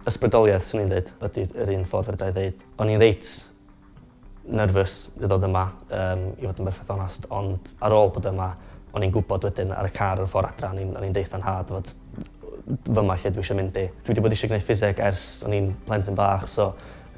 Ysbrydoliaeth, swn i'n dweud, ydy yr un ffordd fedra i ddeud. O'n i'n reit nervous i ddod yma, um, i fod yn berffaith onast, ond ar ôl bod yma, o'n i'n gwybod wedyn ar y car o'r ffordd adra, o'n i'n i'n deitha nhad fod fyma lle dwi eisiau mynd i. Dwi wedi bod eisiau gwneud ffiseg ers o'n i'n plentyn bach, so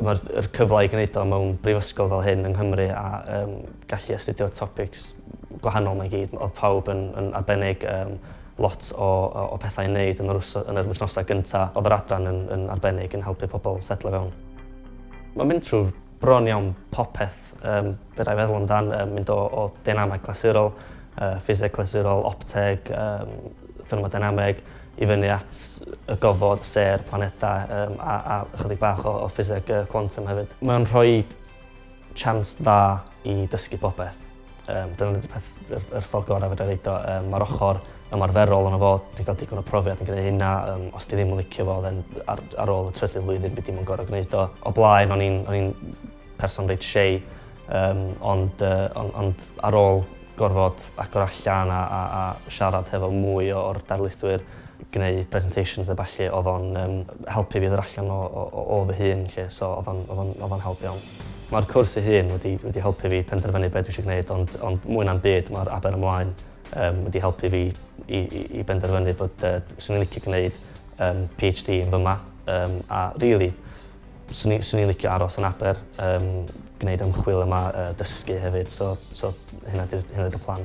Mae'r yr cyfle i gwneud o mewn brifysgol fel hyn yng Nghymru a um, gallu astudio topics gwahanol mae gyd. Oedd pawb yn, yn arbennig um, lot o, o, o pethau i wneud yn yr, yn yr wythnosau gyntaf. Oedd yr adran yn, yn arbennig yn helpu pobl setlo fewn. Mae'n mynd trwy bron iawn popeth Yym, fedrai feddwl amdan um, mynd o, o dynameg clasurol, uh, ffiseg clasurol, opteg, um, thermodynameg, i fyny at y gofod, ser, planedau um, a, a ychydig bach o, o ffiseg uh, quantum hefyd. Mae'n rhoi chance dda i dysgu popeth. Um, dyna wedi peth yr, yr ffordd gorau fydra reid o. Um, Mae'r ochr ymarferol yn o fod, ti'n cael digon o profiad yn gwneud hynna, um, os ti ddim yn licio fo, then ar, ar ôl y trydydd flwyddyn byd dim yn gorau gwneud o. O blaen, o'n i'n Person reit shei, um, ond, uh, ond, ond ar ôl gorfod agor allan a, a, a siarad hefo mwy o'r darlithwyr, gwneud presentations a falle, oedd o'n um, helpu fi ddod allan o, o, o, o fy hun, lle, so oedd o'n helpu iawn. Mae'r cwrs ei hun wedi, wedi helpu fi penderfynu beth dwi eisiau gwneud, ond, ond mwy na'n byd mae'r aber ymlaen um, wedi helpu fi i, i, i benderfynu bod uh, sy'n licio gwneud um, PhD yn fyma, um, a really, Swn i, swn i'n licio aros yn Aber, um, gwneud ymchwil yma, uh, dysgu hefyd, so, so hynna ydy'r plan.